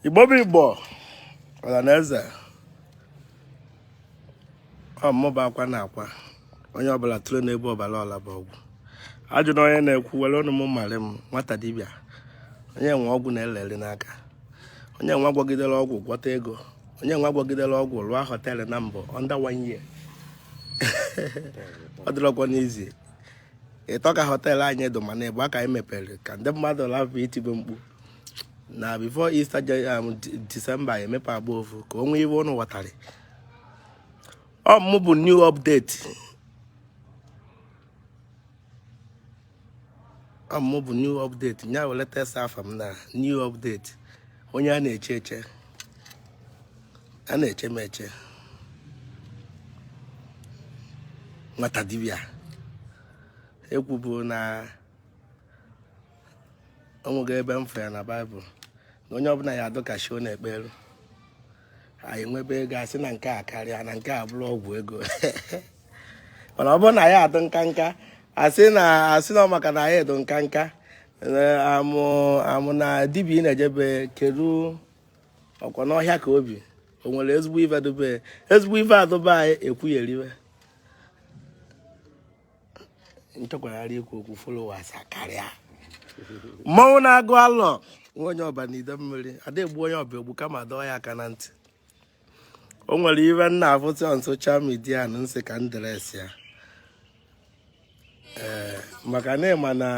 igbo bụ igbo ọla na eze ọmụba akwa na akwa onye ọbụla tụrụ n'ebe ọbara ọla bụ ọgwụ ajụ na onye na-ekwu were ọnụ m marị m nwata dibịa onye nwe ọgwụ na-elere n'aka onye nwa gwọgidere ọgwụ gwọta ego onye nwa gwọgidere ọgwụ rụọ hotel na mbụ under one year ọ dịrọkwanụ easy ịtọ ka hotel anyị dụ mana ịbụa ka anyị mepere ka ndị mmadụ lapụ itibe mkpu na before Easter December emepe agba ofu ka onwe iwe ụnụ ghọtara ọ mụ bụ new update ọ mụ bụ new update nya were tesa afa m na new update onye a na-eche eche a na-eche m eche nwata dibịa ekwubu na o nwego ebe m fụ ya na Bible na onye ọbụla ya adụ ka shi ọ na-ekpe elu anyị nwebe ego asị na nke a karịa na nke a bụrụ ọgwụ ego mana ọ bụrụ na ya adụ nkanka asị na ọ maka na ya adụ nkanka amụ na dibịa ị na-ejebe kedu ọ kwa n'ọhịa ka o bi o nwere ezigbo ife dobe ezigbo ife adụba anyị ekwugheriwe m chọkwara ikwu okwu followers karịa mmanwụ na-agụ alọ nwa onye ọba na ide mmiri ada egbu onye ọba egbu kama dọọ ya aka na ntị o nwere ife m na-afụ on social media na m sị ka m address ya ee maka na ị ma na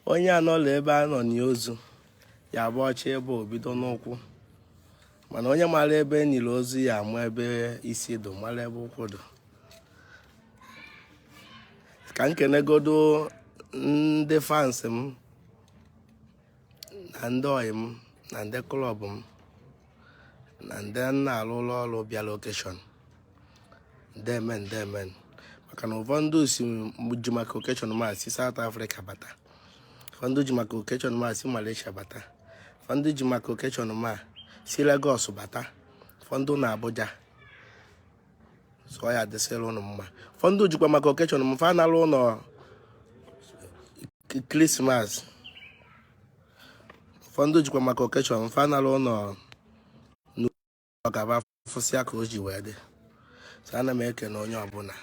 onye anọla ebe a na-eni ozu ya bụ ọchị ebe o bido n'ụkwụ mana onye mara ebe e niri ozu ya ama ebe isi dụ mara ebe ụkwụ dụ ka m kenegodo ndị fans m na ndị ọyị m na ndị club m na ndị na-arụ ụlọ ọrụ bịalụ occasion ndeme ndeme maka na ụfọdụ si ji maka occasion m a si South Africa bata ụfọdụ ji maka occasion m a si Malaysia bata ụfọdụ ji maka occasion m a si Lagos bata ụfọdụ na Abuja so ya adịsịrị ụnụ mma ụfọdụ jikwa maka occasion m fa nalụ ụlọ Christmas ụfọdụ jikwa maka occasion m fa nalụ ụlọ ka ba fụsịa ka o ji wee dị so ana m ekene onye ọbụla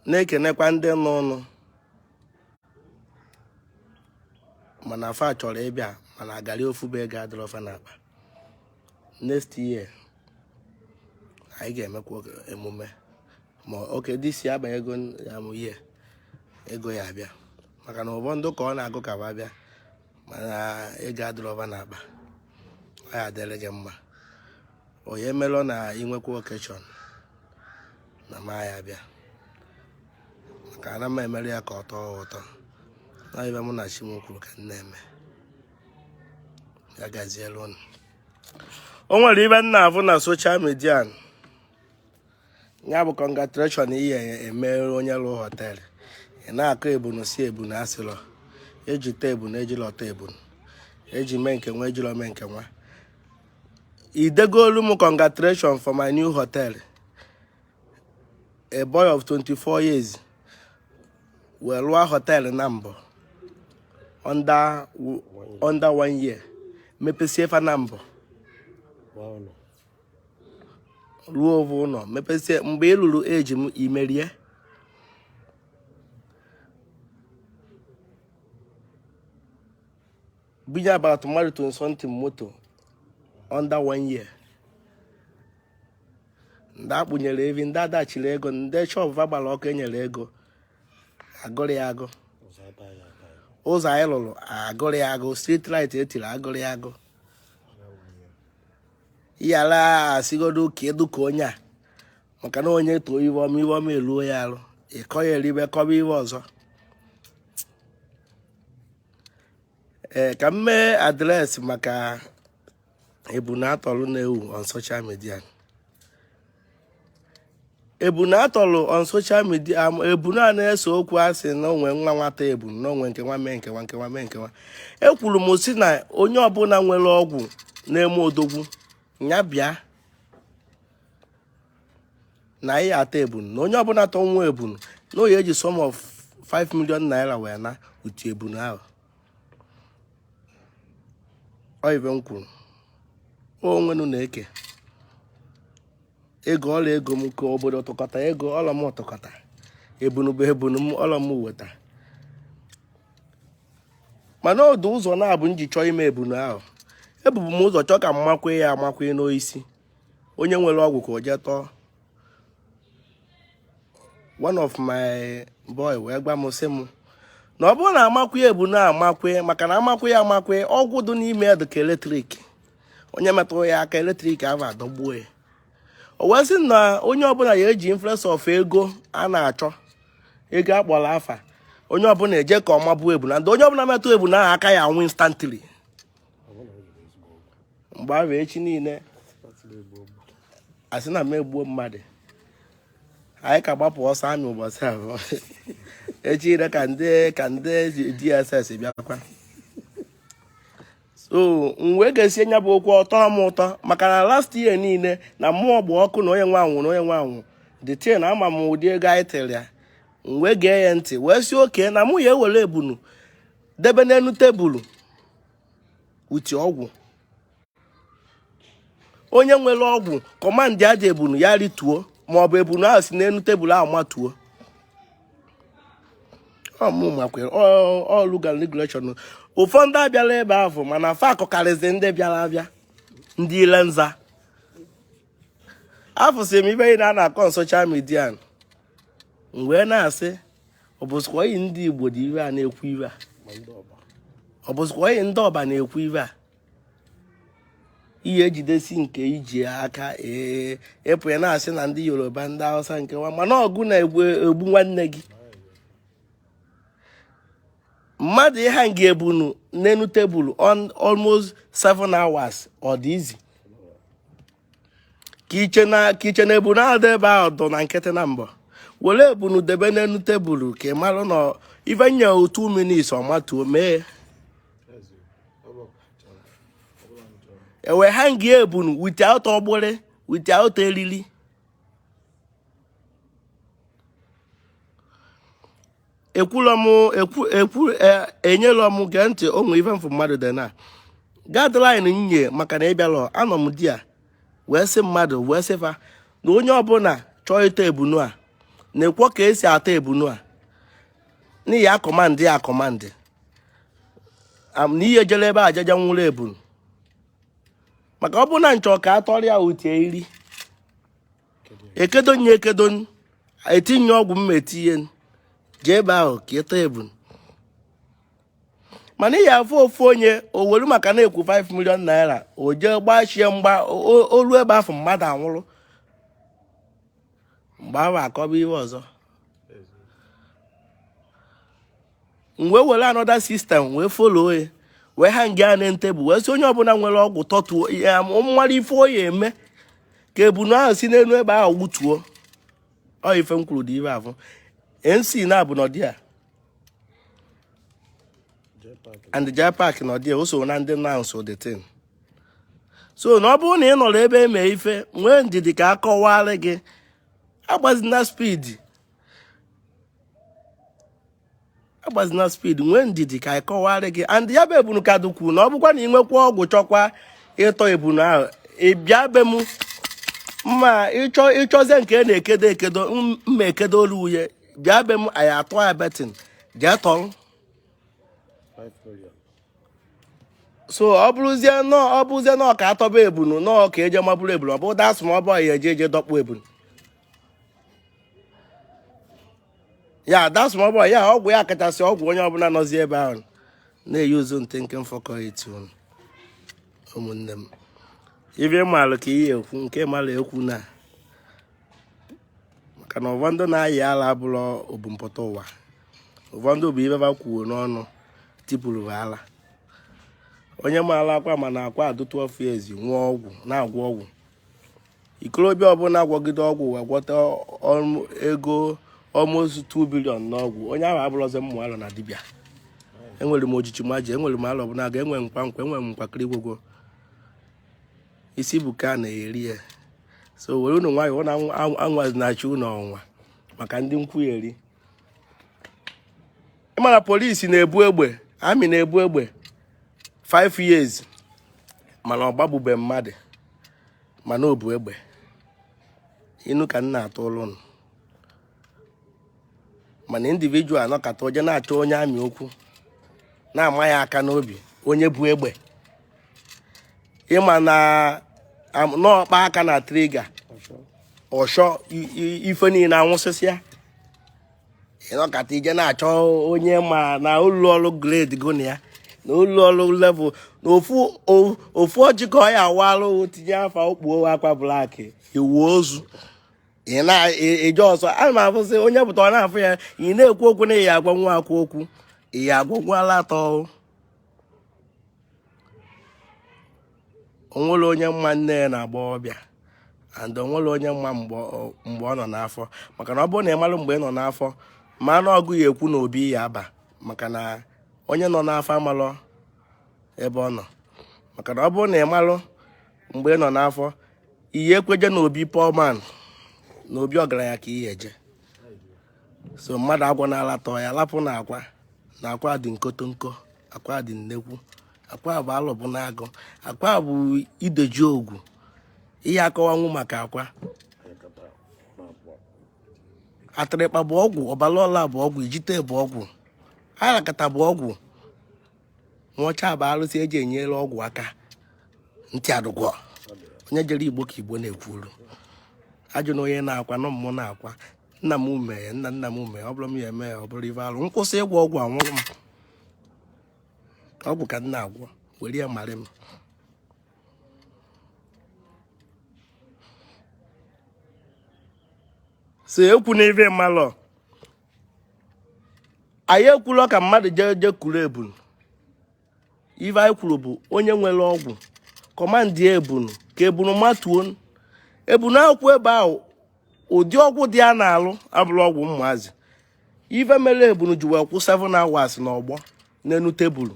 na-ekenekwa ndị nọ ụnọ mana fa chọrọ ịbịa mana agarị ofu bụ ego adịrọ fa n'akpa next year anyị ga-emekwa emume ma oke dị isi abanye ego ya mụ nye ego ya abịa maka na ụfọdụ ka ọ na-agụ ka fa bịa mana ego adịrọ fa n'akpa ọ ya adịrị gị mma onye melụ na i nwekwa occasion na m ya-abịa maka ana m emere ya ka ọ tọọ ụtọ na ife mụ na chi m kwuru ka m na-eme o nwere ife m na-afụ na social media ya bụ congratulation ị ya-emere onye lụ hotel ị na-akọ ebunu si ebunu asịlọ eji ta ebunu ejilọ ta ebunu eji mee nke nwa ejilọ mee nke nwa i degolu m congratulation for my new hotel a boy of 24 years wee lụọ hotel naabọ under one year mepesie fa naabọ rụọ ovu ụlọ mepesie mgbe ị lụrụ eji m imerie Bunye about mmadụ to something moto under one year. Ndị akpụnyere evi, ndị a dashịrị ego, ndị shop fa gbara ọkụ enyere ego. Agụrọ ya agụ. Ụzọ anyị lụrụ agụrọ ya agụ. Street light etiri agụrọ ya agụ. Yala asịgodu ka a dị ka onye a. Maka na onye too ife ọma ife ọma eluo ya arụ. Ịkọ ya eribe kọba ife ọzọ. ee ka m mee address maka ebunu a tọlụ na-ewu on social media ebunu a tọlụ on social media am- ebunu a na-ese okwu a sị na o nwe nwa nwata ebunu na o nwe nke nwa mee nke nwa nke nwa mee nke nwa ekwuru m si na onye ọbụla nwere ọgwụ na-eme odogwu ya bịa na anyị ata ebunu na onye ọbụla tọwa ebunu na o ya-eji sum of 5 million naira wee na utu ebunu ahụ ọ ife m kwuru onwenu na-eke ego ọla ego m ka obodo tụkọta ego ọla m tụkọta ebunu bụ ebunu m ọla m weta mana ọ dụ ụzọ naabọ m ji chọọ ime ebunu ahụ ebubu m ụzọ chọọ ka m makwu ya amakwu n'osisi onye nwere ọgwụ ka o jee tọọ one of my boy wee gwa m sị m na ọ bụrụ na amakwu ebunu a amakwu maka na amakwu ya amakwu ọgwụ dị n'ime ya dịka electric onye metụrụ ya aka electric ahụ adọgbuo ya o wee sị na onye ọbụla ya eji influence of ego a na-achọ ego akpọrọ afa onye ọbụla eje ka ọma bụ ebunu na onye ọbụla metụ ebunu a aka ya anwụ instantly mgbe ahụ echi niile asị na m egbuo mmadụ anyị ka gbapụ ọsọ amị ụbọchị ahụ echi ire ka ndị ka ndị dss bịakwa so m wee gesie nya bụ okwu ọ tọọ m ụtọ maka na last year niile na mmụọ gba ọkụ na onye nwe anwụ na onye nwe anwụ the thing ama m ụdị ego anyị tịrị ya m wee gee ya ntị wee sị okay na mụ ya-ewere ebunu debe n'elu tebụlụ uti ọgwụ onye nwere ọgwụ kọmandịa ebunu ya rituo maọbụ ebunu ahụ si n'elu tebụlụ ahụ matuo ọ rule and regulation ụfọdụ abịalọ ebe ahụ mana fa akọkarịzi ndị bịara abịa ndị ile nza afụsị m ife a na-akọ na social media m wee na-asị ọ bụzikwa anyị ndị igbo dị ihe a na-ekwu ihe a ọ bụzikwa anyị ndị ọba na-ekwu ihe a ihe ejidesi nke iji aka ee ịpụ ya na-asị na ndị yoruba ndị hausa nke nwa mana ọ gị na-egbu nwanne gị mmadụ ịhanga ebunu n'enu tebụl on almost 7 hours ọ dị easy ka i che na ka i che na ebunu ahụ dị ebe ahụ dọ na nkịtị na mbọ were ebunu debe n'enu tebụl ka ị marụ na ife nye 2 minutes ọ matuo m wee hanga ebunu without ọgbụrị without eriri ekwulọ m ekwu ekwu e- enyelọ m gee ntị o nwe ife m fụ mmadụ dị na guideline nye maka na ịbịalọ anọ m there wee sị mmadụ wee sị fa na onye ọbụla chọọ ịta ebunu a nekwo ka esi ata ebunu a na ị ya-akọmandị ya akọmandị am na ihe jere ebe ajaja nwụrụ ebunu maka ọ bụrụ na m chọ ka a tọrọ ya utie iri ekedo ya ekedo etinye ọgwụ m na-etinye jee ebe ahụ ka ịta ebunu mana ị ya-afụ ofu onye o welu maka na-ekwu 5 million naira o jee gbachie mgbada olu ebe afụ mgbada anwụrụ mgbe ahụ akọba ihe ọzọ m wee were another system wee follow ya wee hanga ya na tebụl wee sị onye ọbụla nwere ọgwụ tọtuo ya mara ife o ya-eme ka ebunu ahụ si n'elu ebe ahụ wụtuo ọ ife m kwuru dị ebe afụ mc na-abụ n'ọdị a and jai park na ọdị o so na ndị announce the thing so na ọ bụrụ na ị nọrọ ebe eme ife nwee ndidi ka a kọwara gị agbazina speed agbazina speed nwee ndidi ka akọwara gị and ya bụ ebunu ka dụkwu na ọ bụkwa na ị nwekwa ọgwụ chọkwa ịtọ ebunu ahụ ị bịa be m ma ị chọ ị chọzie nke a na-ekedo ekedo m- mma ekedo olu uye bịa be m anyị atụ ya betting jee tọrọ so ọ bụrụzie nọ ọ bụrụzie nọ ka atọba ebunu nọ ka eje ma buru ebunu ọ bụ dasụ ma ọ bụ ya eje eje dọkpụ ebunu ya that's my boy ya ọgwụ ya kachasị ọgwụ onye ọbụla nọzi ebe ahụ na-eyi uzu ntị nke mfọkọ etu ụmụnne m ibe maalụ ka ihe ekwu nke mara ekwu na maka na ụfọdụ na-ayị ala abụrụ ebumpụta ụwa ụfọdụ bụ ibe ba kwuo n'ọnụ tipụrụ ala onye maara akwa mana akwa adụtụ ọfụ ezi nwụọ ọgwụ na-agwọ ọgwụ ikorobịa ọbụla agwọgide ọgwụ wee gwọta ego almost 2 billion n'ọgwụ onye ahụ abụrụzi mmụ alọ na dibịa enwere m ojiji maji enwere m Alọbụnagụ enwe nkwa nkwa enwere m nkwakịrị gwogwo isi bụ ka a na-eri ya so were unu nwayọọ na anwazi na-achị unu ọnwa maka ndị nkwugheri ị mara police na-ebu egbe army na-ebu egbe 5 years mana ọ gbagbube mmadụ mana o bu egbe ị nụ ka m na-atụ ilu nụ mana individual anọkata o je na-achọ onye army okwu na-ama ya aka n'obi onye bu egbe ị ma na ọ kpa aka na trigger ọshọ ife niile anwụsịsịa ị nọkata i je na-achọ onye ma na ụlọ ọrụ grade gụ na ya na ụlọ ọrụ level na ofu o- ofu ọjị ka ọ ya-awa arụ tinye afa o kpuo akwa black iwu ozu ị na-eje ọsọ ana m afụsị onye pụta ọ na-afụ ya ị na-ekwu okwu na ị ya-agwanwu akwa okwu ị ya-agwanwu ala atọ o nwere onye ma nne ya n'agbọọbịa and o nwere onye ma mgbe ọ nọ n'afọ maka na ọ bụrụ na ị mara mgbe ị nọ n'afọ ma na ọgụ ya ekwu na obi ya aba maka na onye nọ n'afọ amalọ ebe ọ nọ maka na ọ bụrụ na ị malụ mgbe ị nọ n'afọ ị ya-ekwe je na obi poor man na obi ọgaranya ka ị ya-eje so mmadụ agwa na-alatọ ya lapụ na akwa na akwa dị nkotonko akwa dị nnekwu akwa bụ Alọbụnagụ akwa bụ ideji ogwu ị ya-akọwanwu maka akwa atịrịkpa bụ ọgwụ ọbara ọla bụ ọgwụ ijite bụ ọgwụ arakata bụ ọgwụ nwaọcha bụ arụsị eji enyere ọgwụ aka ntị adụgwọ onye jere igbo ka igbo na-ekwuru ajụ na onye na-akwa nọ mmụọ na-akwa nna m mee nna nna m mee ọ bụrụ m ya eme ya ọ bụrụ ife alụ m kwụsị ịgwọ ọgwụ anwụrụ m ọgwụ ka m na-agwọ were ya marị m si ekwu na ife malọ anyị ekwulọ ka mmadụ jee jee kuru ebunu ife anyị kwuru bụ onye nwere ọgwụ command ebunu ka ebunu matuo ebunu akwụkwa ebe ahụ ụdị ọgwụ dị a na-alụ abụrọ ọgwụ ụmụazị ife mere ebunu ji wee kwụ 7 hours n'ọgbọ n'enu table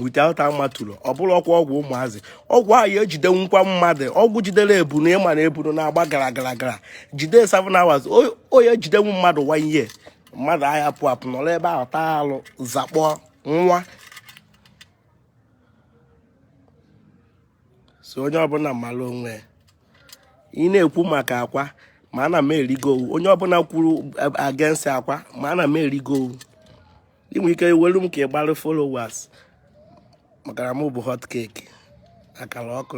without amatụrụ ọ bụrọkwa ọgwụ ụmụazị ọgwụ ahụ ya ejidenwukwa mmadụ ọgwụ jidere ebunu ị ma na ebunu na-agba gara gara gara jide 7 hours ọ ya ejidenwu mmadụ 1 year mmadụ aya apụ apụ nọrọ ebe ahụ taa alụ zakpọ nwa so onye ọbụla mara onwe ị na-ekwu maka akwa ma ana m erigo owu onye ọbụla kwuru against akwa ma ana m erigo owu ị nwere ike welu m ka ị gbara followers maka na m bụ hot cake akara ọkụ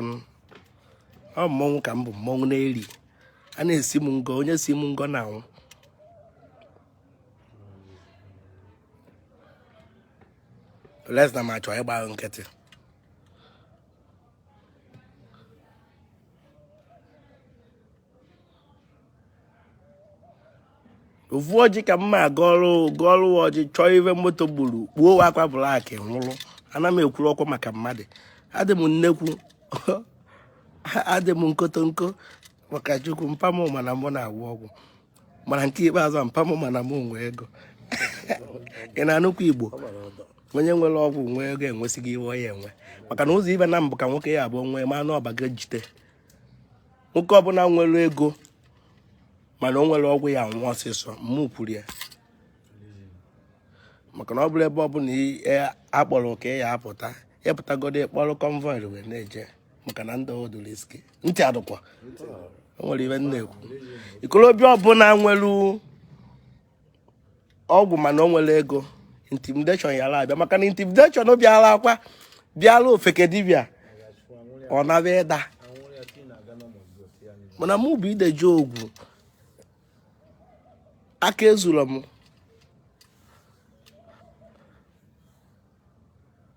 ọ mmọnwụ ka m bụ mmọnwụ na-eri a na-esi m ngọ onye si m ngọ na-anwụ unless na m achọọ ịgba nkịtị ofu ọjị ka mma gọọlụ gọọlụ ọjị chọọ ive moto gburu kpuo akwa black nwụrụ ana m ekwuru ọkwa maka mmadụ adị m nnekwu adị m nkotonko maka chukwu mpa m ma na mụ na-agwọ ọgwụ mana nke ikpeazụ mpa m ma na m nwe ego ị na-anụkwa igbo onye nwere ọgwụ nwee ego enwesigo ive ya enwe maka na ụzọ ive naabọ ka nwoke ya abụọ nwee ma anụ ọbaga jite nwoke ọbụla nwere ego mana o nwerọ ọgwụ ya anwụ ọsịsọ mụ kwuru ya maka na ọ bụrụ ebe ọ bụla a kpọrọ ka ị ya apụta ị pụtagodu ị kpọrọ convoy wee na-eje maka na ndị odoro iske ntị adụkwa o nwere ive m na-ekwu ikolobịa ọbụla nwere ọgwụ mana o nwerọ ego intimidation yara abịa maka na intimidation bịara akwa bịara ofeke dibịa ọ nabịa ịda mana mụ bụ ide ji ọgwụ aka ezuru m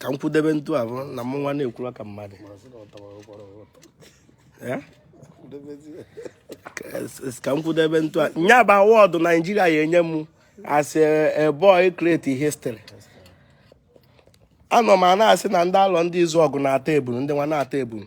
ka m kwudebe ntu a bụ na mụ nwa na-ekwuru ka mmadụ ka m kwudebe ntu a nya bụ award Nigeria ya enye m as a boy create history anọ m a na-asị na ndị Alọndizuọgụ na-ata ebunu ndị nwa na-ata ebunu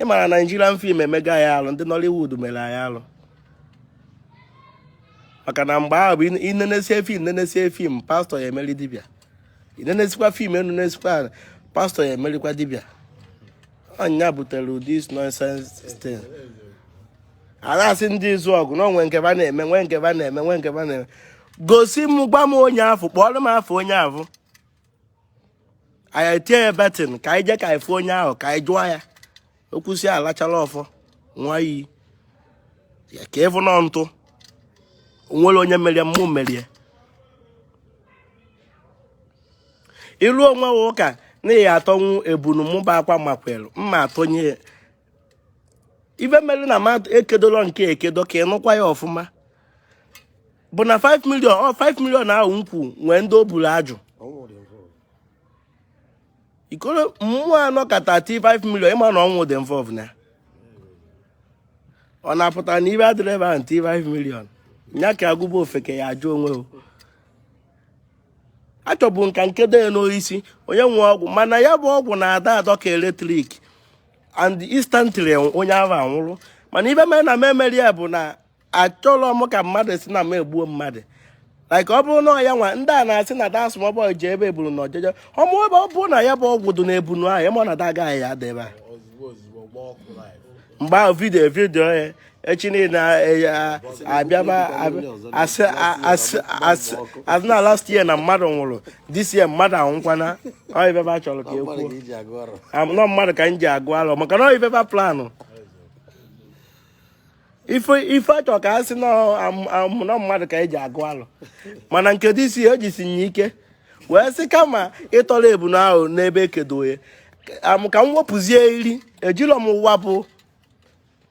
ị mara Nigerian film emego anyị alụ ndị Nollywood mere anyị alụ maka na mgbe ahụ bụ i nenesie film nenesie film pastor ya emeri dibịa i nenesikwa film enenesikwa pastor ya emerikwa dibịa ọ nya butere ụdị nonsense thing a na-asị ndị Izuọgụ na o nwe nke ba na-eme nwe nke ba na-eme nwe nke ba na-eme gosi m gwa m onye afụ kpọọrọ m afa onye afụ anyị etie ya betting ka anyị jee ka anyị fụ onye ahụ ka anyị jụọ ya o kwusịa lachala ọfọ ṅụa iyi ya ka ị fụ nọ ntụ o nwere onye merie mụ merie ilu onwe ụka na ya atọnwu ebunu mụba akwa makwelu mma atọnye ife mere na mmadụ ekedoro nke ekedo ka ị nụkwa ya ọfụma bụ na 5 million ọ 5 million ahụ m kwu nwee ndị o buru ajụ ikoro mmụọ anọ ka 35 million ị ma na ọnwụ dị involved na ọ na-apụta na ibe adịrọ ebe ahụ 35 million nya ka agụba ofeke ya ajụ onwe o achọbu m ka m kedo ya n'oisi onye nwe ọgwụ mana ya bụ ọgwụ na-adọ adọ ka eletrik and instantly onye ahụ anwụrụ mana ibe mere na m emerọ ya bụ na achọrọ m ka mmadụ sị na m egbuo mmadụ like ọ bụrụ na ya nwa ndị a na-asị na da small boy ji ebe eburu na ọjọjọ ọmụ ebe ọ bụrụ na ya bụ ọgwụ dị na ebunu ahụ ị ma na da agaghị ya debe mgbe ahụ video video ya echi niile abịaba asị na last year na mmadụ nwụrụ this year mmadụ anwụkwana ọ ibe ba chọrọ ka e kwuo na ọ mmadụ ka m ji agụ arọ maka na ọ ibe ba plan ife a chọ ka a sị na ọ mmadụ ka e ji agụ arọ mana nke dị isi o jisi nye ike wee sị kama ị tọrọ ebunu ahụ n'ebe e kedo ya ka m wepụzie iri ejilọ m ụwa bụ